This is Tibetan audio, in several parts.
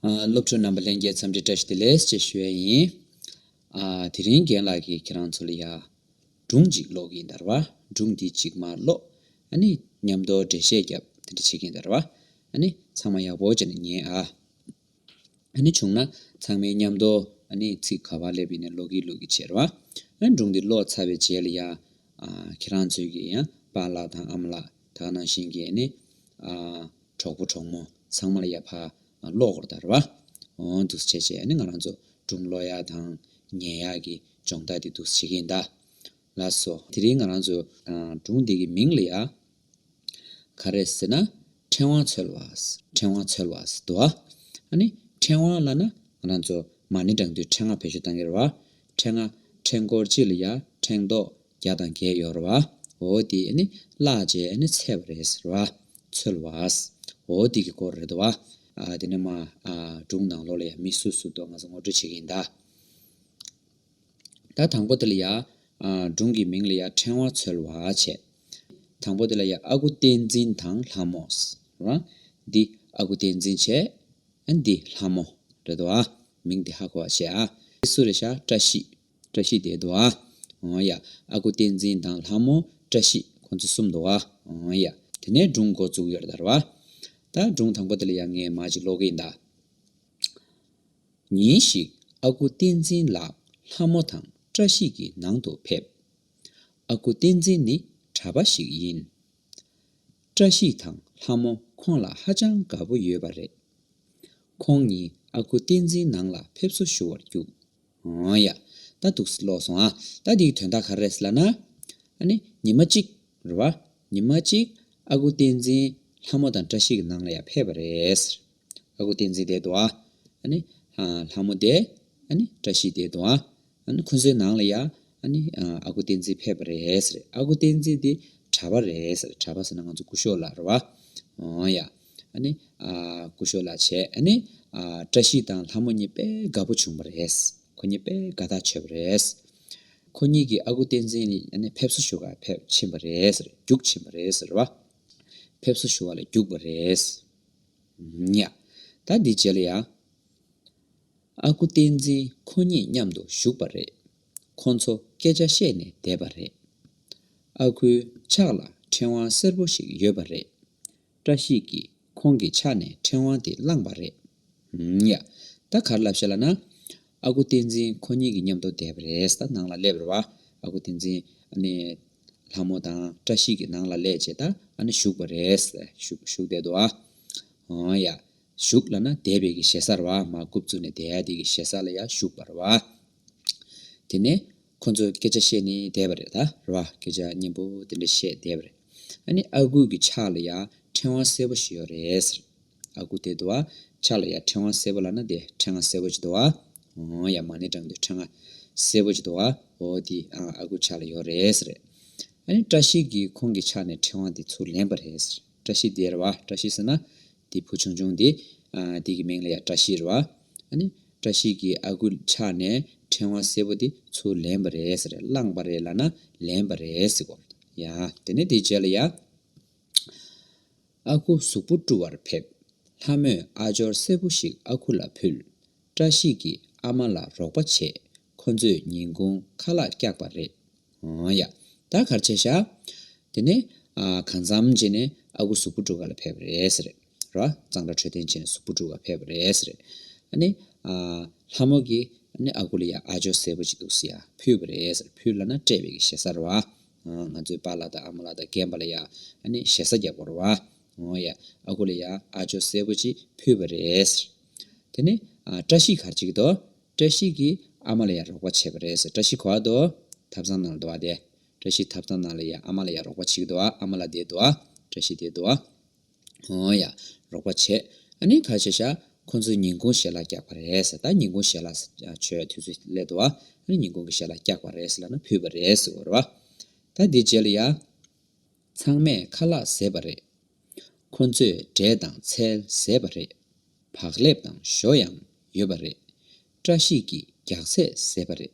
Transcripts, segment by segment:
སློབ་ཕྲུག་རྣམ་པ་ལྷན་རྒྱས་འཚམས་འདྲི་བཀྲ་ཤིས་བདེ་ལེགས་ཞེས་ཞུ་ཡས་ཡིན། དེ་རིང་རྒན་ལགས་ཀྱིས་ཁྱེད་རང་ཚོ་ལ་ཡར་སྒྲུང་གཅིག་ཀློག་གིན་དར་བ་སྒྲུང་འདི་གཅིག་མ་ཀློག་ཨ་ནི་ཉམས་རྟོགས་འགྲེལ་བཤད་རྒྱབ་དེ་འདྲ་བྱེད་ཀྱིན་དར་བ་ཨ་ནི་ཚང་མ་ཡག་པོ་བྱས་ན་ཉན་ཨ། ནི་བྱུང་ན། ཚང་མའི་མཉམ་དུ། ནི་ཚིག་ག་བ་ལེབ་ཡིན་ནི་ལོག་གིས་ལུག་གིས་བྱེར་བ། ཨེ་འབྲུག་འདི་ལོག་ཚ་བའི་བྱེ་ལ་ཡ། ཁྱེད་རང་ཚོས་ཀྱིས་ཡང་པ་ལགས་དང་ཨ་མ་ལགས་དག་ནང་བཞིན་གྱིས་ནི། གྲོགས་པོ་གྲོགས་མོ་ཚང་མ་ལ་ཡ་ཕ་ལོག་གོར་དར་བ། འདུག་སེ་བྱས་བྱས་ནི་ང་རང་ཚོ་འབྲུག་ལོག་ཡ་དང་ཉལ་ཡ་གི་སྦྱོང་རྟགས་འདི་འདུག་སེ་བྱེད་ཀྱིན་གདའ། ལ་སོ། དེ་རིང་ང་རང་ཚོས། འབྲུག་འདི་གི་མིང་ལ་ཡ། ག་རེ་ཟེར་ན་ཕྲེང་བ་འཚོལ་བ། ཕྲེང་བ་འཚོལ་བ། དུ་བ། ཨ་ནི། ཕྲེང་བ་བླ་ན། ང་རང་ཚོ། མ་ནི་དྲང་དུས་ཕྲེང་བ་བེད་སྤྱོད་གཏང་གི་རེད་བ། ཕྲེང་བ། ཕྲེང་སྐོར་གཅིག་ལ་ཡ། ཕྲེང་རྡོག། བརྒྱ་དང་བརྒྱད་ཡོད་རེད་བ། འོ་དེ། ཨ་ནི། བརླག་རྗེས་ཨ་ནི་ཚད་པ་རེད་ཟེར་བ། འཚོལ་བ། འོ་དེ་གི་སྐོར་རེད་དོ་བ། དེ་ནས་མ། སྒྲུང་ནང་ལོགས་ལ་ཡ་མི་སུ་སུ་འདུག་ང་ཚོ་ངོ་སྤྲོད་བྱེད་ཀྱི་ཡིན་ད། ད་དང་པོ་དེ་ལ་ཡང། སྒྲུང་གི་མིང་ལ་ཡང་ཕྲེང་བ་འཚོལ་བ་བྱེད། དང་པོ་དེ་ལ་ཡང་ཨ་ཁུ་བསྟན་འཛིན་དང་ལྷ་མོ། འདི་ཨ་ཁུ་བསྟན་འཛིན་བྱེད། འདི་ལྷ་མོ། རེད་དོ། མིང་དེ་ཧ་གོ་བ་བྱེད། འདི་སུ་རེད་ཤ་བཀྲ་ཤིས། བཀྲ་ཤིས་དེ་དོ། འོ་ཡ། ཨ་ཁུ་བསྟན་འཛིན་དང་ལྷ་མོ། བཀྲ་ཤིས་ཁོང་ཚོ་གསུམ་དོ། འོ་ཡ། དེ་ནས་སྒྲུང་མགོ་བཙུགས་ཡོད་རེད་དར་བ། ད་སྒྲུང་དང་པོ་དེ་ལ་ཡང་ངས་མ་ཅིག་ཀློག་གིན་གདའ། ཉིན་ཞིག་ཨ་ཁུ་བསྟན་འཛིན་ལགས་ལྷ་མོ་དང་བཀྲ་ཤིས་ཀྱི་ནང་དུ་ཕེབས། ཨ་ཁུ་བསྟན་འཛིན་ནི་གྲྭ་པ་ཞིག་ཡིན། བཀྲ་ཤིས་དང་ལྷ་མོ་ཁོང་ལ་ཧ་ཅང་དགའ་པོ་ཡོད་པ་རེད། ཁོང་གཉིས་ཨ་ཁུ་བསྟན་འཛིན་ནང་ལ་ཕེབས་བསུ་ཞུ་བར་བརྒྱུགས། ཨོ་ཡ། ད་འདུག་སི་ལོག་སོང་ཨ། ད་འདིའི་དོན་དག་ག་རེ་རེད་སི་ལ་ན། ཨ་ནི་ཉི་མ་གཅིག་རེད་བ། ཉི་མ་གཅིག་ཨ་ཁུ་བསྟན་འཛིན་ལྷ་མོ་དང་བཀྲ་ཤིས་ཀྱི་ནང་ལ་ཡང་ཕེབས་པ་རེད། ཨ་ཁུ་བསྟན་འཛིན་དེའི་དུ་བ། ལྷ་མོ་དེ། བཀྲ་ཤིས་དེའི་དུ་བ། ཁོ་ཚོའི་ནང་ལ་ཡང། ཨ་ཁུ་བསྟན་འཛིན་ཕེབས་པ་རེད། ཨ་ཁུ་བསྟན་འཛིན་དེ་གྲྭ་པ་རེད། གྲྭ་པ་ཟེར་ན་ང་ཚོ་སྐུ་ཞོགས་ལགས་རེད། འོང་ཡ། སྐུ་ཞོགས་ལགས་བྱས། བཀྲ་ཤིས་དང་ལྷ་མོ་གཉིས་དཔེ་དགའ་པོ་བྱུང་བ་རེད། ཁོ་གཉིས་དཔེ་དགའ་ཐག་ཆོད་པ་རེད། ཁོ་གཉིས་ཀྱིས་ཨ་ཁུ་བསྟན་འཛིན་ཕེབས་བསུ་ཞུ་བར་ཕེབས་ཕྱིན་པ་རེད། རྒྱུགས་ཕྱིན་པ་རེད། ཕེབས་བསུ་ཞུ་བ་ལ་རྒྱུགས་པ་རེད། ཉག། ད་འདི་བྱས་ལ་ཡང། ཨ་ཁུ་བསྟན་འཛིན་ཁོ་གཉིས་མཉམ་དུ་བཞུགས་པ་རེད། ཁོ་ཚོ་སྐད་ཆ་བཤད་ནས་བསྡད་པ་རེད། ཨ་ཁུའི་ཕྱག་ལ་ཕྲེང་བ་སེར་པོ་ཞིག་ཡོད་པ་རེད། བཀྲ་ཤིས་ཀྱིས་ཁོང་གི་ཕྱག་ནས་ཕྲེང་བ་དེ་བླངས་པ་རེད། ཉག། ད་གར་ལབ་བཤད་ལ་ན། ཨ་ཁུ་བསྟན་འཛིན་ཁོ་གཉིས་ཀྱི་མཉམ་དུ་བསྡད་པ་རེད་ད་ནང་ལ་སླེབས་རེ་བ། ཨ་ཁུ་བསྟན་འཛིན། ལྷ་མོ་དང་བཀྲ་ཤིས་ཀྱི་ནང་ལ་སླེབས་རྗེས་ད་ཨ་ན་བཞུགས་པ་རེད། བཞུགས་བསྡད་དོ་ཨ། ཨོ་ཡ། བཞུགས་ལ་ན་སྡེ་བའི་གི་ཞེ་ས་རེ་བ་མ་རྐུབ་བཙུགས་ནས་སྡེ་ཡ་དེ་གི་ཞེ་ས་ལ་ཡ་བཞུགས་པ་རེ་བ། དེ་ནས་ཁོ་ཚོས་སྐད་ཆ་བཤད་ནས་བསྡད་པ་རེད་ད་རེ་བ་སྐད་ཆ་སྙན་པོ་དེ་འདྲ་བཤད་བསྡད་པ་རེད། ཨ་ནི་ཨ་ཁུ་གི་ཕྱག་ལ་ཡ་ཕྲེང་བ་སེར་པོ་ཞིག་ཡོད་རེད། ཨ་ཁུ་དེ་དུ་བ་ཆགས་ལ་ཡར་ཕྲེང་བ་སེར་པོ་ལ་ན་དེ་ཕྲེང་བ་སེར་པོ་ཅི་དུ་བ་འོང་ཡར་མ་ནི་དྲང་དུ་ཕྲེང་བ་སེར་པོ་ཅི་དུ་བ་འོ་དེ་ཨང་ཨ་ཁུ་ཆགས་ལ་ཡོད་རེད་ཟེར། ཨ་ནི་བཀྲ་ཤིས་ཀྱིས་ཁོང་གི་ཕྱག་ནས་ཕྲེང་བ་དེ་ཚུར་ལེན་པ་རེད་ཟེར། བཀྲ་ཤིས་དེ་རེད་བ་བཀྲ་ཤིས་ཟེར་ན། དེ་བུ་ཆུང་ཆུང་དེ། དེ་གི་མིང་ལ་ཡང་བཀྲ་ཤིས་རེད་བ། ཨ་ནི་བཀྲ་ཤིས་ཀྱིས་ཨ་ཁུ་ཕྱག་ནས་ཕྲེང་བ་སེར་པོ་དེ་ཚུར་ལེན་པ་རེད་ཟེར་བླངས་པ་རེད་ལ་ན་ལེན་པ་རེད་ཟེར་གོ། ཡང་དེ་ནས་དེའི་རྗེས་ལ་ཡང། ཨ་ཁུ་གཟུགས་པོ་བཀྲུ་བར་ཕེབས། ལྷ་མོས་ཨ་ཅོར་སེར་པོ་ཞིག་ཨ་ཁུ་ལ་ཕུལ། བཀྲ་ཤིས་ཀྱིས་ཨ་མ་ལ་རོགས་པ་བྱས། ཁོ་ཚོས་ཉིན་གུང་ཁ་ལག་བཀྱགས་པ་རེད། ཨང་ཡ། ད་གར་ཆས་བཞག། དེ་ནས། གང་འཚམ་བྱས་ནས་ཨ་ཁུ་གཟུགས་པོ་བཀྲུ་ག་ལ་ཕེབས་པ་རེད། རེད་ར། གཙང་སྦྲ་འཕྲོད་བསྟེན་བྱས་ནས་གཟུགས་པོ་བཀྲུ་ག་ཕེབས་པ་རེད། རེད། ཨ་ནི། ལྷ་མོ་གིས་ཨ་ཁུ་ལ་ཡ་ཨ་ཅོ་སེར་པོ་ཅིག་འདུག་སེ་ཡ་ཕུལ་བ་རེད། ཕུལ་ལ་ན་སྤྲད་པའི་གི་ཞེ་སར་བ། ང་ཚོའི་པཱ་ལགས་དང་ཨ་མ་ལགས་དང་རྒན་པ་ལ་ཡང་ཞེ་ས་རྒྱག་པར་བ། ཨོ་ཡ། ཨ་ཁུ་ལ་ཡང་ཨ་ཇོ་གསལ་པོ་ཅིག་ཕུལ་བ་རེད། དེ་ནས་བཀྲ་ཤིས་གར་བྱེད་ཀྱི་འདུག་བཀྲ་ཤིས་ཀྱིས་ཨ་མ་ལ་ཡང་རོགས་པ་བྱེད་པ་རེད། བཀྲ་ཤིས་གོ་བ་འདུག་ཐབ་ཚང་ནང་ལ་འདུག་བ་དེ། བཀྲ་ཤིས་ཐབ་ཚང་ནང་ལ་ཡང་ཨ་མ་ལ་ཡང་རོགས་པ་བྱེད་ཀྱི་འདུག་ཨ་མ་ལགས་དེ་འདུག་བཀྲ་ཤིས་དེ་འདུག། ཨོང་ཡ། རོགས་པ་བྱེད། ཨ་ནི་ཁ་ཤེས་ཤ། ཁོ་ཚོས་ཉིན་གུང་ཞལ་ལག་རྒྱག་པ་རེད། ད་ཉིན་གུང་ཞལ་ལག་ཆོས་དུས་ཚོད་སླེབས་འདུག་ཨ་ནི་ཉིན་གུང་གི་ཞལ་ལག་རྒྱག་པ་རེད་ལབ་ན་ཕུད་པ་རེད། ཟེར་བ། ད་འདི་རྗེས་ལ་ཡ། ཚང་མས་ཁ་ལག་བཟས་པ་རེད། ཁོ་ཚོས་འབྲས་དང་ཚལ་བཟས་པ་རེད། བག་ལེབ་དང་ཞོ་ཡང་ཡོད་པ་རེད། བཀྲ་ཤིས་ཀྱིས་རྒྱག་ཚད་བཟས་པ་རེད།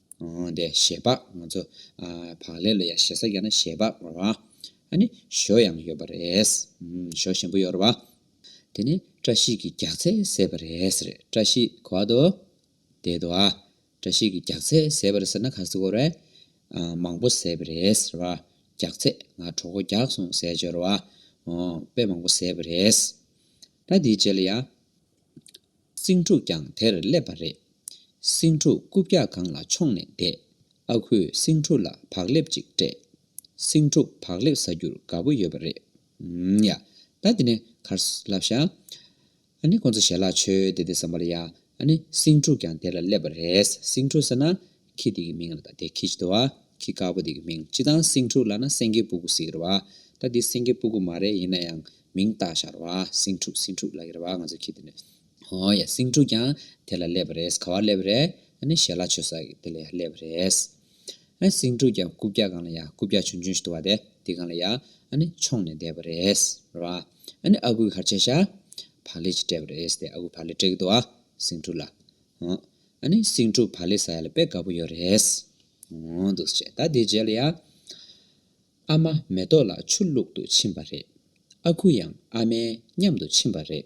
དེ་ཞེས་པ་ང་ཚོ་བག་ལེབ་ལ་ཡང་ཞེ་ས་བརྒྱབ་ན་ཞེས་པ་ང་རོ། ཨ་ནི་ཞོ་ཡང་ཡོད་པ་རེད། ཞོ་ཞིམ་པོ་ཡོད་རོ་བ། དེ་ནི་བཀྲ་ཤིས་ཀྱི་རྒྱགས་ཚད་ཟེར་བ་རེད། བཀྲ་ཤིས་གོ་བ་དོ། དེ་དོ། བཀྲ་ཤིས་ཀྱི་རྒྱགས་ཚད་ཟེར་བ་རེད་ཟེར་ན་ག་ཟེ་གོ་རེད། མང་པོ་ཟེར་བ་རེད། རྒྱགས་ཚད་ང་གྲོགས་པོ་རྒྱགས་སོང་ཟེར་བྱོས་རོ་བ། དཔེ་མང་པོ་ཟེར་བ་རེད། ད་དེའི་རྗེས་ལ་ཡང། སེང་ཕྲུག་ཀྱང་དེར་སླེབས་པ་རེད། སེང་ཕྲུག་རྐུབ་བཀྱག་སྒང་ལ་མཆོངས་ནས་བསྡད། ཨ་ཁུས་སེང་ཕྲུག་ལ་བག་ལེབ་ཅིག་སྤྲད། སེང་ཕྲུག་བག་ལེབ་ཟ་རྒྱུར་དགའ་པོ་ཡོད་པ་རེད། ཡ། ད་འདི་ནས་གར་ལབ་ཤག། ཨ་ནི་ཁོང་ཚོ་ཞལ་ལག་མཆོད་དེ་དེ་བསམ་པར་ཡ། ཨ་ནི་སེང་ཕྲུག་ཀྱང་དེར་སླེབས་པ་རེད། སེང་ཕྲུག་ཟེར་ན་ཁྱི་དེ་གི་མིང་ལ་ད་དེ་ཁྱི་ཅི་ཏོ་བ། ཁྱི་དཀར་པོ་དེ་གི་མིང་ཅི་དང་སེང་ཕྲུག་ལ་ན་སེང་གེ་སྤུ་གུ་ཟེ་གི་རེད་བ། ད་དེ་སེང་གེ་སྤུ་གུ་མ་རེད་ཡིན་ན་ཡང་མིང་བཏགས་བཞག་རེད་བ། སེང་ཕྲུག་སེང་ཕྲུག་ལ་གི་རེད་བ་ང་ཚོ་ཁྱི་དེ་ནི། ཧོ་ཡ་སེང་ཕྲུག་ཀྱང་དེ་ལ་སླེབས་པ་རེད་ག་བར་སླེབས་པ་རེད། ཨ་ནི་ཞལ་ལག་མཆོད་ས་གི་དེ་ལ་ཡ་སླེབས་པ་རེད། ཨ་སེང་ཕྲུག་ཀྱང་རྐུབ་བཀྱག་གང་ལ་ཡ་རྐུབ་བཀྱག་ཆུན་ཆུན་ཞིག་ཏུ་བ་དེ་དེ་གང་ལ་ཡ་ཨ་ནི་མཆོངས་ནས་བསྡད་པ་རེད། རེད་བ། ཨ་ནི་ཨ་ཁུའི་གར་ཆས་ཤ། བག་ལེ་ཅིག་སྤྲད་པ་རེད་དེ་ཨ་ཁུ་བག་ལེ་སྤྲད་གི་ཏོ་བ། སེང་ཕྲུག་ལ། ཧོ། ཨ་ནི་སེང་ཕྲུག་བ་ལས་ས་ཡ་ལ་དཔེ་དགའ་པོ་ཡོད་རེད། འོང་འདུག་བྱས་ད་དེའི་རྗེས་ལ་ཡང། ཨ་མ་མེ་ཏོག་ལགས་ཆུ་བླུག་ཏུ་ཕྱིན་པ་རེད། ཨ་ཁུ་ཡང་ཨ་མའི་མཉམ་དུ་ཕྱིན་པ་རེད།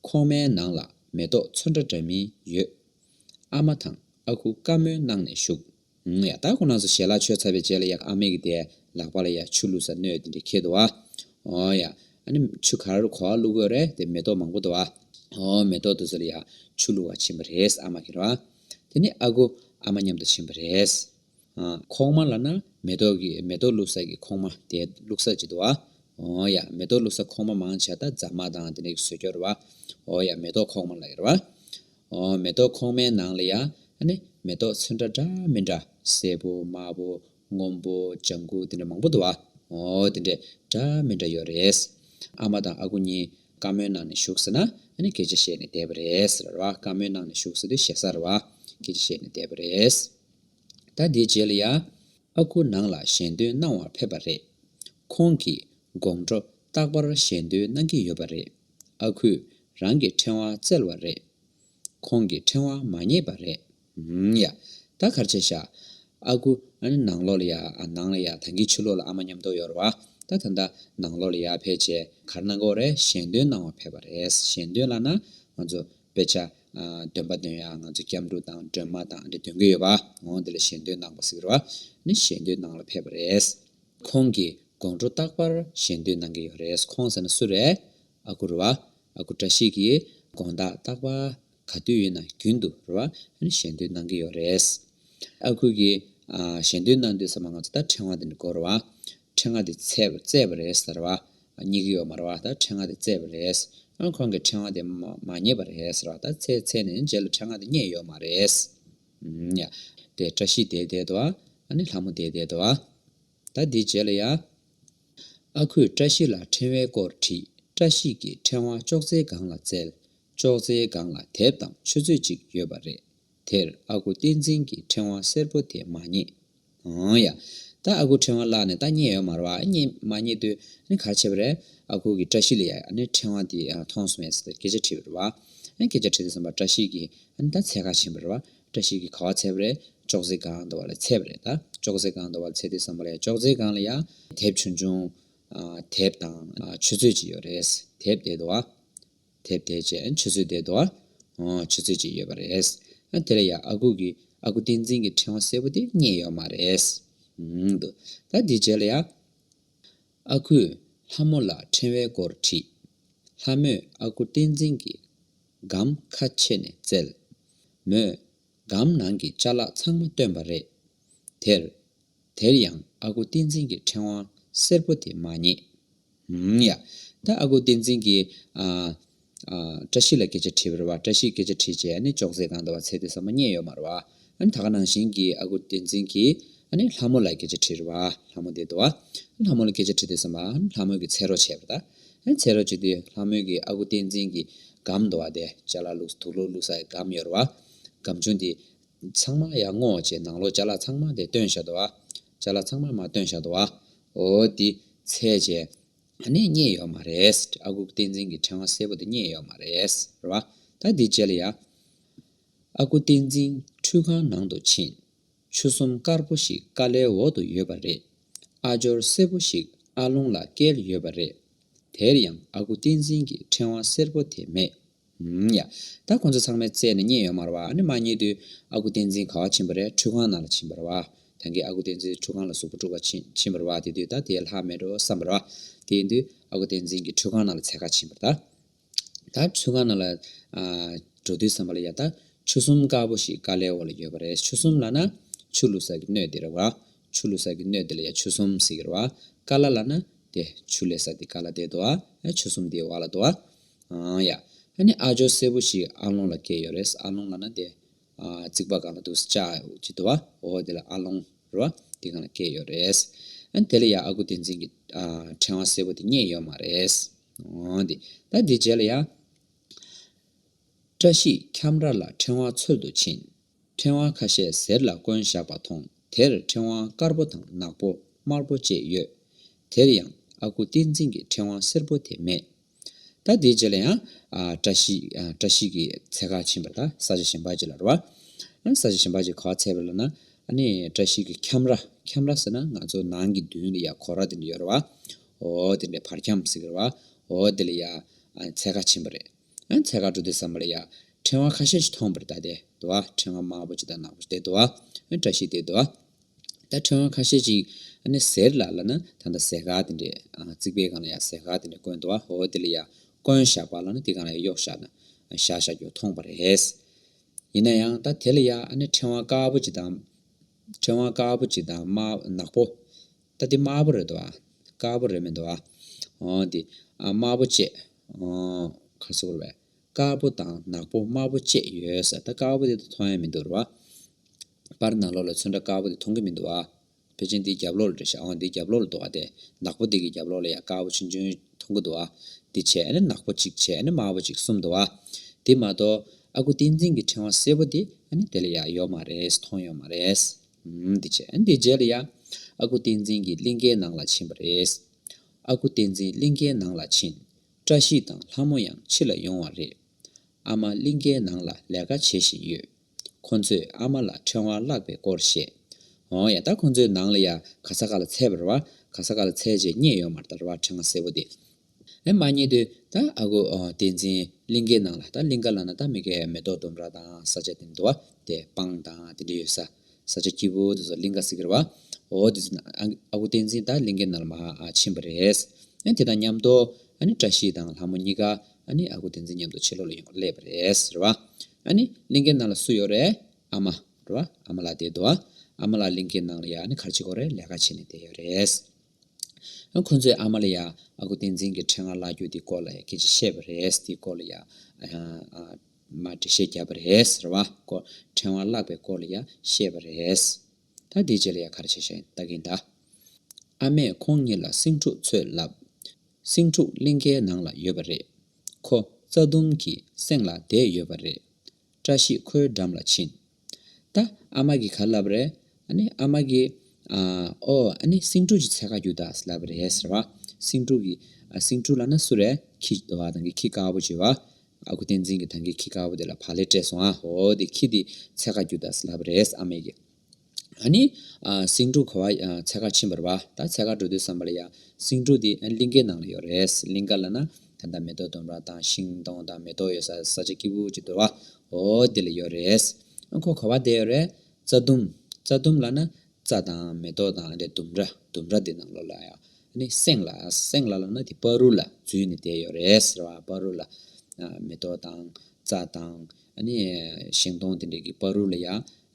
ཁོང་མའི་ནང་ལ་མེ་ཏོག་ཚོན་འདྲ་འདྲ་མིན་ཡོད། ཨ་མ་དང་ཨ་ཁུ་བཀའ་མོལ་གནང་ནས་བཞུགས། ཡ། ད་ཁོ་ནགས་སུ་ཞལ་ལག་ཆོས་ཚར་བའི་རྗེས་ལ་ཡག་ཨ་མེ་གི་དེ་ལག་པ་ལ་ཡ་ཆུ་བླུགས་ས་སྣོད་དེ་འདྲས་ཁེལ་འདུག་བ། ཨོ་ཡ། ཨ་ནི་ཆུ་ག་རུ་གོ་བ་བླུགས་དགོས་རེད་དེ་མེ་ཏོག་མང་པོ་འདུག་བ། ཨོ་མེ་ཏོག་འདུག་ས་ལ་ཡ་ཆུ་བླུགས་བ་ཕྱིན་པ་རེད་ཨ་མ་ཁེལ་བ། དེ་ནི་ཨ་ཁུ་ཨ་མ་མཉམ་དུ་ཕྱིན་པ་རེད། ཨ། ཁོག་མ་ལ་ན་མེ་ཏོག་གི་མེ་ཏོག་བླུགས་ས་ཀྱི་ཁོག་མ་དེ་བླུགས་ས་ཅིག་འདུག་བ། ཨོ་ཡ། མེ་ཏོག་བླུགས་ས་ཁོག་མ་མང་ཆེ་ད་རྫ་མ་དང་དེ་འདྲས་ཀྱི་ཟོས་རྒྱོ་རེད་བ། ཨོ་ཡ། མེ་ཏོག་ཁོག་མ་ལ་ཡོད་རེད་བ། མེ་ཏོག་ཁོག་མའི་ནང་ལ་ཡང། མེ་ཏོག་ཚོན་འདྲ་འདྲ་མི་འདྲ། སེར་པོ་དམར་པོ་སྔོན་པོ་ལྗང་ཁུ་དེ་འདྲ་མང་པོ་འདུག་བ། དེ་འདྲ་འདྲ་མི་འདྲ་ཡོད་རེད། ཨ་མ་དང་ཨ་ཁུ་གཉིས་དཀར་མོའི་ནང་ནས་བཞུགས་ཟེར་ན། སྐད་ཆ་བཤད་ནས་བསྡད་པ་རེད། དཀར་མོའི་ནང་ནས་བཞུགས་ཟེར་དུས་ཞེ་སར་བ། སྐད་ཆ་བཤད་ནས་བསྡད་པ་རེད། ད་དེའི་རྗེས་ལ་ཡང། ཨ་ཁུ་ནང་ལ་གཞན་དོན་གནང་བར་ཕེབས་པ་རེད། ཁོང་གིས་དགོང་དྲོ་རྟག་པར་གཞན་དོན་གནང་གི་ཡོད་པ་རེད། ཨ་ཁུས་རང་གི་ཕྲེང་བ་བཙལ་བ་རེད། ཁོང་གི་ཕྲེང་བ་མ་རྙེད་པ་རེད། ཨུན་ཡ། ད་གར་ཆས་བཞག། ཨ་ཁུ། ནང་ལོགས་ལ་ཡ། ནང་ལ་ཡ། ད་ངས་ཕྱི་ལོགས་ལ་ཨ་མ་ཉམས་ཐོག་ཡོད་རེད་བ། ད་ད་ད། ནང་ལོགས་ལ་ཡ་ཕལ་ཆེར་གར་ནང་སྒོ་རེ་གཞན་དོན་གནང་བར་ཕེབས་པ་རེད། གཞན་དོན་ལ་ན། ང་ཚོ། དཔེ་ཆ། འདོན་པ་འདོན་ཡ་ང་ཚོ་སྐྱབས་འགྲོ་དང་སྒྲོལ་མ་དང་འདི་འདོན་གི་ཡོད་བ། འོང་འདི་ལ་གཞན་དོན་གནང་བ་ཟིག་རེད་བ། ནི་གཞན་དོན་གནང་ལ་ཕེབས་པ་རེད། ཁོང་གིས་དགོང་དྲོ་རྟག་པར་གཞས་འདོན་གནང་གི་ཡོད་རེད་ཁོང་ཟེར་ན་སུ་རེད། ཨ་ཁུ་རེད་བ། ཨ་ཁུ་བཀྲ་ཤིས་ཀྱིས་དགོང་དག་རྟག་པར་ག་དུས་ཡིན་ན་རྒྱུན་དུ་རེད་བ། གཞས་འདོན་གནང་གི་ཡོད་རེད། ཨ་ཁུ་གིས་གཞས་འདོན་གནང་དུས་ཟེར་བ་ང་ཚོ་ད་ཕྲེང་བ་འདི་འདྲ་བསྐོར་རེད་བ། ཕྲེང་བ་འདི་བརྩེགས་པ་རེད་ཟེར་བ། རྙེད་ཀྱི་ཡོད་མ་རེད་བ་ད་ཕྲེང་བ་འདི་བརྩེགས་པ་རེད། ཁོང་གིས་ཕྲེང་བ་འདི་མ་རྙེད་པ་རེད་ཟེར་བ། ད་ཚེ་ཚེ་ནས་རྗེས་ལ་ཕྲེང་བ་འདི་རྙེད་ཡོད་མ་རེད། དེ་བཀྲ་ཤིས་དེས་བསྡད་དོ། ཨ་ནི་ལྷ་མོ་དེས་བསྡད་དོ། ད་འདི་བྱས་ལ་ཡ། ཨ་ཁུས་བཀྲ་ཤིས་ལ་ཕྲེང་བའི་སྐོར་དྲིས་བཀྲ་ཤིས་ཀྱིས་ཕྲེང་བ་ཅོག་ཙེའི་སྒང་ལ་བཙལ། ཅོག་ཙེའི་སྒང་ལ་དེབ་དང་ཆུ་ཚོད་ཅིག་ཡོད་པ་རེད། དེར་ཨ་ཁུ་བསྟན་འཛིན་གྱིས་ཕྲེང་བ་སེར་པོ་དེ་མ་རྙེད། ཨོང་ཡ། ད་ཨ་ཁུ་ཕྲེང་བ་བཀླགས་ནས་ད་རྙེད་ཡོད་མར་བ་ཨ་རྙེད་མ་རྙེད་དུས་ཨ་གར་བྱེད་པ་རེད་ཨ་ཁུ་གི་བཀྲ་ཤིས་ལ་ཡ་ཨ་ནི་ཕྲེང་བ་འདི་མཐོང་སོང་ངས་སྐད་ཆ་དྲིས་པར་བ་ཨ་སྐད་ཆ་དྲིས་ཏེ་བསམ་པ་བཀྲ་ཤིས་གི་ཨ་ནི་ད་ཚད་ག་ཕྱིན་པ་རེད་བ་བཀྲ་ཤིས་གི་ག་བ་ཚད་པ་རེད་ཅོག་ཙེ་གང་འདོར་བ་ལ་ཚད་པ་རེད་ད་ཅོག་ཙེ་གང་འདོར་བ་ལ་ཚད་དེ་བསམ་པ་ལ་ཡ་ཅོག་ཙེ་གང་ལ་ཡ་དེབ་ཆུང་ཆུང། དེབ་དང་ཆུ་ཚོད་ཅིག་ཡོད་རེད་དེབ་དེ་འདོར་བ། དེར་བསྡད་རྗེས་ཆུ་ཚོད་བསྡད་འདུག་ཨ། ཧོ། ཆུ་ཚོད་ཅིག་ཡོད་པ་རེད། དེ་ལ་ཡང་ཨ་ཁུ་གིས་ཨ་ཁུ་བསྟན་འཛིན་གྱི་ཕྲེང་བ་གསལ་པོ་དེ་རྙེད་ཡོད་མ་རེད། འདུག་ད་དེ་རྗེས་ལ་ཡང། ཨ་ཁུས་ལྷ་མོ་ལ་ཕྲེང་བའི་སྐོར་དྲིས། ལྷ་མོས་ཨ་ཁུ་བསྟན་འཛིན་གྱི་སྒམ་ཁ་ཕྱེ་ནས་བཙལ། མོས་སྒམ་ནང་གི་བཅའ་ལག་ཚང་མ་བཏོན་པ་རེད། དེར། དེར་ཡང་ཨ་ཁུ་བསྟན་འཛིན་གྱི་ཕྲེང་བ་སེར་པོ་དེ་མ་རྙེད། ཧུམ། ཡ། ད་ཨ་ཁུ་བསྟན་འཛིན་གྱིས། ཨ། ཨ། བཀྲ་ཤིས་ལ་སྐད་ཆ་དྲིས་པར་བ་བཀྲ་ཤིས་སྐད་ཆ་དྲིས་རྗེས་ཨ་ནི་ཅོག་ཙེའི་སྒང་དུ་བ་ཚད་དུས་ས་མ་རྙེད་ཡོད་མར་བ། ཨ་ནི་ད་ག་ནང་བཞིན་གྱི་ཨ་ཁུ་བསྟན་འཛིན་གྱིས་ཨ་ནི་ལྷ་མོ་ལ་སྐད་ཆ་དྲིས་ར་བ། ལྷ་མོ་འདི་དུ་བ། ཨ་ལྷ་མོ་ལ་སྐད་ཆ་དྲིས་དུས་ས་མ། ཨ་ལྷ་མོ་གི་ཚད་རོགས་བྱས་པར་ད། ཨེ་ཚེ་རོ་ཆེ་དུས་ལྷ་མོའི་གི་ཨ་ཁུ་བསྟན་འཛིན་གི་སྒམ་འདོ་བ་དེ་ལྕེ་ལ་བླུགས་དུག་ལོ་བླུགས་ས་ཡི་སྒམ་གཡོར་བ། སྒམ་ཆུང་དེ། ཚང་མ་ཡར་སྔོ་ཅེས་ནང་ལོ་ལྕེ་ལ་ཚང་མ་དེ་སྟོན་བཞག་དུ་བ། ལྕེ་ལ་ཚང་མ་མ་སྟོན་བཞག་དུ་བ། འོ་དེ། ཚེ་ཆེ། ད་ནས་རྙེད་ཡོད་མ་རེད། ཨ་ཁུ་བསྟན་འཛིན་གི་ཕྲེང་བ་སེར་པོ་དེ་རྙེད་ཡོད་མ་རེད། རེད་བ། ད་དེ་བཅལ་ཡ། ཨ་ཁུ་བསྟན་འཛིན་ཁྲུས་ཁང་ནང་དུ་ཕྱིན། ཆུ་གསུམ་དཀར་པོ་ཞིག་དཀའ་ལའི་འོག་ཏུ་ཡོད་པ་རེད། ཨ་ཇོར་སེར་པོ་ཞིག་ཨ་རླུང་ལ་བཀལ་ཡོད་པ་རེད། དེར་ཡང་ཨ་ཁུ་བསྟན་འཛིན་གྱི་ཕྲེང་བ་སེར་པོ་དེ་མེད། ཧུམ་ཡ། ད་ཁོ་ཚོ་ཚང་མའི་རྩལ་ནི་རྙེད་ཡོད་མ་རེད་བ་ཨ་ནི་མ་རྙེད་དུས་ཨ་ཁུ་བསྟན་འཛིན་ག་བ་ཕྱིན་པ་རེད་ཁྲུས་ཁང་ནང་ལ་ཕྱིན་པ་རེད་བ། ད་གིན་ཨ་ཁུ་བསྟན་འཛིན་ཁྲུས་ཁང་ལ་གཟུགས་པོ་དཀྲུག་པར་ཕྱིན་ཕྱིན་པ་རེད་བ་དེ་དུས་ད་དེའི་ལྷག་མེད་འགྲོ་བསམ་པ་རེད་བ། དེ་ཡིན་དུས་ཨ་ཁུ་བསྟན་འཛིན་གྱི་ཁྲུས་ཁང་ནང་ལ་ཚལ་ཁ་ཕྱིན་པ་རེད། ད་ཆུ་སྒང་ནང་ལ་འགྲོ་དུས་བསམ་པ་ལ་ཡ་ད་ཆུ་གསུམ་དཀར་པོ་ཞིག་དཀའ་ལས་འོག་ལ་ཡོད་པ་རེད་ཆུ་གསུམ་ལ་ན་ཆུ་ལུ་ས་གི་སྣོད་དེ་རེད་བ། ཆུ་ལུ་ས་གི་སྣོད་དེ་ལ་ཡ་ཆུ་གསུམ་ཟེར་གི་རེད་བ། དཀར་ལ་ལ་ན་དེ་ཆུ་ལས་ས་དེ་དཀར་ལ་དེ་དོ་བ། ཆུ་གསུམ་དེའི་བ་ལ་དོ་བ། ཨང་ཡ། ཨ་ནི་ཨ་ཇོ་སེར་པོ་ཞིག་ཨ་ལོང་ལ་སྐྱེས་ཡོད་རེད་ཨ་ལོང་ལ་ན་དེ། རྩིག་པ་གང་ལ་འདུག་ས་ཅག་ཅེས་དོ་བ། འོ་དེ་ལ་ཨ་ལོང་རེད་བ། དེ་གང་ལ་སྐྱེས་ཡོད་རེད། ཨ་ནི་དེ་ལ་ཡ་ཨ་ཁུ་བསྟན་འཛིན་གྱིས་ཕྲེང་བ་སེར་པོ་དེ་རྙེད་ཡོད་མ་རེད། ད་དེ་རྗེས་ལ་ཡང། བཀྲ་ཤིས་འཁྱམས་ར་ལ་ཕྲེང་བ་འཚོལ་དུ་ཕྱིན། ཕྲེང་བ་ཁ་ཤས་ཟེར་ལ་བསྐོན་བཞག་པ་མཐོང་དེར་ཕྲེང་བ་དཀར་པོ་དང་ནག་པོ་དམར་པོ་བཅས་ཡོད། དེར་ཡང་ཨ་ཁུ་བསྟན་འཛིན་གྱི་ཕྲེང་བ་སེར་པོ་དེ་མེད། ད་དེ་རྗེས་ལ་ཡང། བཀྲ་ཤིས་ཀྱིས་ཚལ་ཁ་ཕྱིན་པར་ད་ས་ཆ་གཞན་པ་ཅིག་ལ་རོལ་བ། ས་ཆ་གཞན་པ་ཅིག་ག་བ་ཚལ་བ་ལ་ན་བཀྲ་ཤིས་ཀྱིས་འཁྱམས་ར་འཁྱམས་ར་ཟེར་ན་ང་ཚོ་ནང་གི་མདུན་ལ་ཡང་གོ་ར་དེ་འདྲ་ཡོད་རེད་བ། ཨོ་དེ་ནས་བར་ཁྱམས་ཟེར་གི་རེད་བ། ཨོ་དེ་ལ་ཡ། ཚལ་ཁ་ཆེན་པོ་རེད། ཚལ་ཁ་འགྲོ་དུས་ཟ་མ་ལ་ཡ། ཕྲེང་བ་ཁ་ཤས་ཤིག་མཐོང་བར་གདའ་སྟེ་འདུག་བ། ཕྲེང་བ་དམར་པོ་ཅིག་དང་ནག་པོ་ཅིག་དེ་འདུག་བ། བཀྲ་ཤིས་དེ་འདུག་བ། ད་ཕྲེང་བ་ཁ་ཤས་ཅིག། ཟེར་ལ་ལ་ན་ད་ལྟ་ཟས་ཁ་དེ་འདྲས། རྩིག་པའི་སྒང་ལ་ཡ་ཟས་ཁ་དེ་འདྲས་བརྐོས་འདུག་བ། ཨོ་དེ་ལ་ཡ། བརྐོས་བཞག་པ་ལ་ན་དེ་སྒང་ལ་ཡ་གཡོག་བཞག་ན། བཞག་བཞག་རྒྱུ་མཐོང་བ་རེད། ཡིན་ན་ཡང་ད་དེ་ལ་ཡ། ཕྲེང་བ་དཀར་པོ་ཅིག་དང། ཕྲེང་བ་དཀར་པོ་ཅིག་དང་དམར་ནག་པོ། ད་དེ་དམར་པོ་རེད་དོ། དཀར་པོ་རེད་མེད་དོ། འོན་ཏེ། དམར་པོ་བཅས། ཁར་སོ་བར་བས། དཀར་པོ་དང་ནག་པོ་དམར་པོ་བཅས་ཡོད་ས་ད་དཀར་པོ་དེ་ད་མཐོང་ཡ་མི་འདུག་རེད་བ། པར་ནག་ལོག་ལ་ཚོན་འདྲ་དཀར་པོ་དེ་མཐོང་གི་མི་འདུག་བ། བེ་ཅན་དེའི་རྒྱབ་ལོག་ལ་འདྲ་ཤ་འོ་དེའི་རྒྱབ་ལོག་ལ་འདུག་བ་དེ། ནག་པོ་དེ་གི་རྒྱབ་ལོག་ལ་ཡ་དཀར་པོ་ཆུན་ཆུན་མཐོང་གི་འདུག་བ། དེ་བྱས་ཨ་ནི་ནག་པོ་གཅིག་བྱས་ཨ་ནི་དམར་པོ་གཅིག་གསུམ་འདུག་བ། དེ་མ་གཏོགས། ཨ་ཁུ་བསྟན་འཛིན་གི་ཕྲེང་བ་སེར་པོ་དེ་ཨ་ནི་དེ་ལ་ཡ་ཡོག་མ་རེད་མཐོང་ཡོག་མ་རེད། འདི་བྱས་ཨ་འདི་བྱས་ལ་ཡ། ཨ་ཁུ་བསྟན་འཛིན་གྱི་གླིང་ཁའི་ནང་ལ་ཕྱིན་པ་རེད། ཨ་ཁུ་བསྟན་འཛིན་གླིང་ཁའི་ནང་ལ་ཕྱིན། བཀྲ་ཤིས་དང་ལྷ་མོ་ཡང་ཕྱི་ལ་ཡོང་བ་རེད། ཨ་མ་གླིང་ཁའི་ནང་ལ་ལས་ཀ་བྱེད་བཞིན་ཡོད། ཁོ་ཚོས་ཨ་མ་ལ་ཕྲེང་བ་བརླག་པའི་སྐོར་བཤད། འོ་ཡ་ད་ཁོ་ཚོའི་ནང་ལ་ཡ་ག་ས་ག་ལ་ཚད་པར་བ་ག་ས་ག་ལ་ཚད་རྗེས་རྙེད་ཡོད་མར་ད་ར་བ་ཕྲེང་བ་སེར་བོ་དེ། ཨེ་མ་ཉེ་དུ་ད་ཨ་ཁུ་བསྟན་འཛིན་གླིང་གའི་ནང་ལ་ད་གླིང་ག་ལ་ན་ད་མི་གའི་མེ་ཏོག་ལྡུམ་ར་དང་ས་ཆ་དེ་འདུ་བ་དེ་སྤང་དང་དེ་འདྲ་ཡོད་ས། ས་ཆ་སྐྱིད་པོ་དེ་ཚོ་གླིང་ག་སི་ཁེར་བ། འོ་དེ་ཚོ་ན་ཨ་ཁུ་བསྟན་འཛིན་ད་གླིང་གའི་ནང་ལ་མ་ཕྱིན་པ་རེད། ཨེ་དེ་དང་མཉམ་དུ་ཨ་ནི་བཀྲ་ཤིས་དང་ལྷ་མོ་གཉིས་ཀ་ཨ་ནི་ཨ་ཁུ་བསྟན་འཛིན་མཉམ་དུ་ཕྱི་ལོག་ལ་ཡོང་བར་སླེབས་པ་རེད་ཟེར་བ། ཨ་ནི་གླིང་གའི་ནང་ལ་སུ་ཡོད་རེད་ཨ་མ། རེད་བ། ཨ་མ་ལགས་དེ་འདུ་བ། ཨ་མ་ལགས་གླིང་གའི་ནང་ལ་ཡ་ཨ་ནི་གར་སྤྱི་ཁོག་རེད་ལས་ཀ་བྱས་ནས་བསྡད་ཡོད་རེད། ཁོ་ཚོས་ཨ་མ་ལ་ཡང་ཨ་ཁུ་བསྟན་འཛིན་གྱི་འཕྲེད་ངག་བཀླག་རྒྱུ་དེའི་སྐོར་ལ་ཡང་སྐད་ཆ་བཤད་པ་རེད། དེའི་སྐོར་ལ་ཡང་འགྲེལ་བཤད་བརྒྱབ་པ་རེད། ཟེར་བ། འཕྲེད་ངག་བཀླག་པའི་སྐོར་ལ་ཡང་བཤད་པ་རེད། ད་དེའི་རྗེས་ལ་ཡང་ག་རེ་བྱེད་བཞིན་ལྟ་གིན་གདའ། ཨ་མས་ཁོང་གཉིས་ལ་སེང་ཕྲུག་འཚོལ་བསླབས། སེང་ཕྲུག་གླིང་ཁའི་ནང་ལ་ཡོད་པ་རེད། ཁོ་རྩྭ་ལྡུམ་གྱི་གསེང་ལ་བསྡད་ཡོད་པ་རེད། བཀྲ་ཤིས་ཁོའི་འགྲམ་ལ་ཕྱིན། ད་ཨ་མ་གིས་ག་ལབ་རེད། ཨ་ནི་ཨ་མ་གིས། ཨོ། ཨ་ནི་སེང་ཕྲུག་ཅིག་ཚེ་ག་རྒྱུ་དག་ལབ་རེད་ཟེར་བ། སེང་ཕྲུག་གིས། སེང་ཕྲུག་ལ་ན་སུ་རེད། ཁྱི། ཐང་གིས་ཁྱི་དཀར་པོ་བྱས་བ། ཨ་ཁུ་བསྟན་འཛིན་གྱིས་ཐང་གིས་ཁྱི་དཀར་པོ་དེ་ལ་བག་ལེབ་སྤྲད་སོང་ཨ་ཧོ། དེ་ཁྱི་དེས་ཚེ་ག་རྒྱུ་དག་ལབ་རེད་ཨ་མས་ཀྱིས། ནི། སེང་ཕྲུག་གོ་བ་ཚལ་ཁར་ཕྱིན་པར་བ། ད་ཚལ་ཁར་འགྲོ་དུས་བསམ་པར་ཡ། སེང་ཕྲུག་འདི་གླིང་ཀའི་ནང་ལ་ཡོད་རེད། གླིང་ཀ་ལ་ན། ད་ད་མེ་ཏོག་སྡོམ་ར་དང་ཤིང་སྡོང་དང་མེ་ཏོག་ཡོད་ས་ས་ཆ་སྐྱིད་པོ་ཅིག་འདུག་བ། འོ། འདི་ལ་ཡོད་རེད། ཁོ་གོ་བ་བསྡད་ཡོད་རེད། རྩྭ་ལྡུམ། རྩྭ་ལྡུམ་ལ་ན། རྩྭ་དང་མེ་ཏོག་དང་འདི་ལྡུམ་ར། ལྡུམ་ར་འདི་ནང་ལོགས་ལ་ཡ། ནི། སེང་ལ། སེང་ལ་ལ་ན་དེ་སྤ་རུ་ལ་འཛུལ་ནས་བསྡད་ཡོད་རེད། ཟེར་བ། སྤ་རུ་ལ། མེ་ཏོག་དང། རྩྭ་དང། ནི། ཤིང་སྡོང་འདི་འདྲ་གི་སྤ་རུ་ལ་ཡ།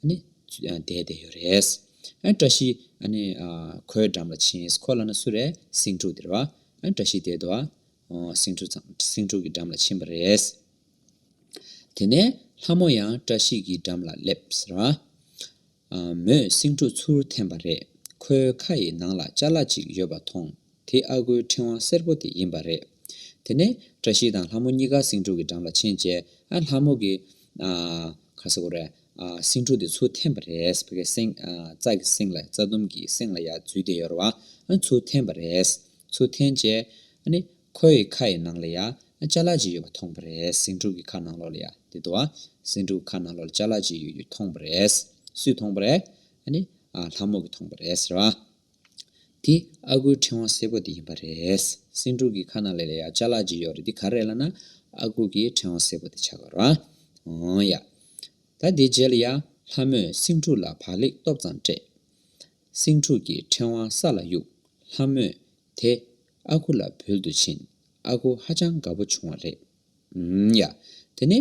ནི་བསྡད་དེ་ཡོད་རེད། བཀྲ་ཤིས། ཁོའི་འགྲམ་ལ་ཕྱིན། ཁོ་ལ་ན་སུ་རེད། སེང་ཕྲུག་དེ་རེད། བཀྲ་ཤིས་དེ་དོ། སེང་ཕྲུག་ཚང་སེང་ཕྲུག་གི་འགྲམ་ལ་ཕྱིན་པ་རེད། དེ་ནས་ལྷ་མོ་ཡང་བཀྲ་ཤིས་ཀྱི་འགྲམ་ལ་སླེབས། མོས་སེང་ཕྲུག་ཚུར་འཐེན་པ་རེད། ཁོའི་ཁ་ཡི་ནང་ལ་ལྕགས་ལ་ཅིག་ཡོད་པ་མཐོང། དེ་ཨ་ཁུའི་ཕྲེང་བ་སེར་པོ་དེ་ཡིན་པ་རེད། དེ་ནས་བཀྲ་ཤིས་དང་ལྷ་མོ་གཉིས་ཀ་སེང་ཕྲུག་གི་འགྲམ་ལ་ཕྱིན་རྗེས་ཨ་ལྷ་མོ་གི། ཁ་ཟེར་གོ་རེ། སེང་ཕྲུག་དེ་ཆུ་འཐེན་པ་རེད། བོད་སྐད། སེང། རྩྭ་གི་སེང་ལ་རྩྭ་ལྡུམ་གྱི་སེང་ལ་ཡ་འཛུལ་དེ་ཡོད་རེད་བ། ཆུ་འཐེན་པ་རེད། ཆུ་འཐེན་རྗེས། ཁོའི་ཡི་ཁ་ཡི་ནང་ལ་ཡ། ལྕགས་ལ་ཅིག་ཡོད་པ་མཐོང་བ་རེད། སེང་ཕྲུག་གི་ཁ་ནང་ལོགས་ལ་ཡ། དེ་དུ་བ། སེང་ཕྲུག་གི་ཁ་ནང་ལོགས་ལ་ལྕགས་ལ་ཅིག་ཡོད་རྒྱུ་མཐོང་བ་རེད། སུས་མཐོང་བ་རེད། ཨ་ལྷ་མོ་གིས་མཐོང་བ་རེད་ཟེར་བ། དེ་ཨ་ཁུའི་ཕྲེང་བ་སེར་པོ་དེ་ཡིན་པ་རེད། སེང་ཕྲུག་གི་ཁ་ན་ལས་ལ་ཡ་ལྕགས་ལག་ཅིག་ཡོད་རེད་དེ་ག་རེད་ལ་ན། ཨ་ཁུ་གི་ཕྲེང་བ་སེར་པོ་དེ་ཆགས་ཀ་རོ། འོང་ཡ། ད་དེའི་རྗེས་ལ་ཡ། ལྷ་མོས་སེང་ཕྲུག་ལ་བག་ལེགས་སྟོབས་ཙམ་སྤྲད། སེང་ཕྲུག་གི་ཕྲེང་བ་ས་ལ་གཡུག། ལྷ་མོས་དེ་ཨ་ཁུ་ལ་འབུལ་དུ་ཕྱིན། ཨ་ཁུ་ཧ་ཅང་དགའ་པོ་བྱུང་བ་རེད། ཨམ། ཡ། དེ་ནི།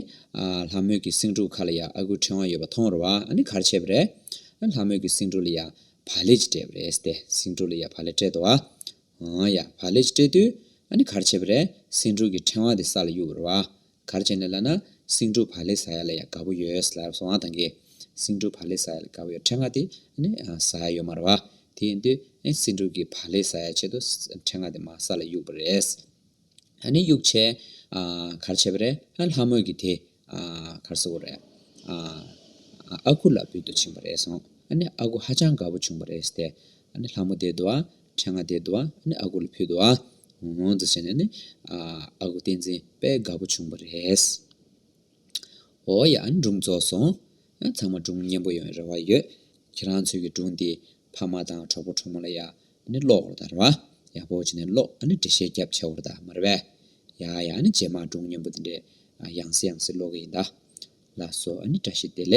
ལྷ་མོས་ཀྱི་སེང་ཕྲུག་ཁ་ལ་ཡ་ཨ་ཁུ་ཕྲེང་བ་ཡོད་པ་མཐོང་རུ་བ་ཨ་ནི་གར་བྱེད་པ་རེད། ལྷ་མོས་ཀྱི་སེང་ཕྲུག་ལ་ཡ་བ་ལེ་ཅི་སྤྲད་པ་རེད་ཏེ་སེང་ཕྲུག་ལ་ཡ་བ་ལེ་སྤྲད་དོ། ཨམ། ཡ་བ་ལེ་ཅི་སྤྲད་དུས་ཨ་ནི་གར་བྱེད་པ་རེད། སེང་ཕྲུག་གི་ཕྲེང་བ་དེ་ས་ལ་གཡུག་རུ་བ། གར་བྱེད་ནས་ལ་ན་སེང་ཕྲུག་བ་ལེ་ཟ་ཡ་ལ་ཡ་དགའ་བོ་ཡོད་ལ་སོང་བ་དང་གི། སེང་ཕྲུག་བ་ལེ་ཟ་ཡ་ལ་དགའ་བོ་ཡོད་ཕྲེང་བ་དེ་ཨ་ནི་ཟ་ཡ་ཡོད་མ་རུ་བ། དེ་ཡིན་དུས་ཨེ་སེང་ཕྲུག་གི་བ་ལེ་ཟ་ཡ་ཆེད་དུ་ཕྲེང་བ་དེ་མ་ས་ལ་གཡུག་པ་རེད། ཨ་ནི་དབྱུག་བྱས། གར་བྱས་པ་རེད། ལྷ་མོས་ཀྱི་དེ། གར་ཟེར་བ་རེད། ཨ་ཁུ་ལ་འབུད་དུ་ཕྱིན་པ་རེད་གསུངས། ཨ་ནི་ཨ་ཁུ་ཧ་ཅང་དགའ་པོ་བྱུང་བ་རེད་ཟེར། ཨ་ནི་ལྷ་མོ་དེའི་དུ་བ། ཁྲེ་ང་དེའི་དུ་བ། ཨ་ནི་ཨ་ཁུ་ལ་ཕུལ་དུ་བ། ཨོང་ཨོང་ཙི་བྱས་ནས་ནི། ཨ་ཁུ་བསྟན་འཛིན་དཔལ་དགའ་པོ་བྱུང་བ་རེད། ཨོ་ཡ་སྒྲུང་རྫོགས་སོང། ཚང་མ་སྒྲུང་སྙན་པོ་ཡོང་བའི་རེ་བ་ཡོད། ཁྱེད་རང་ཚོའི་གི་སྒྲུང་འདི་ཕ་མ་དང་གྲོགས་པོ་གྲོགས་མོ་ལ་ཡ་ནི་ཀློག་བར་དར་བ། ཡག་པོ་བྱས་ནས་ཀློག་ཨ་ནི་འབྲི་བཤད་རྒྱབ་ཆེ་བར་དར་མར་བས། ཡ་ཡ་ནི་རྗེས་མར་སྒྲུང་སྙན་པོ་འདི་འདྲའི་ཡང་སྲིད་ཡང་སྲིད་ཀློག་གི་ཡིན་ད། ལགས་སོ་ཨ་ནི་བཀྲ་ཤིས་བདེ་ལེགས།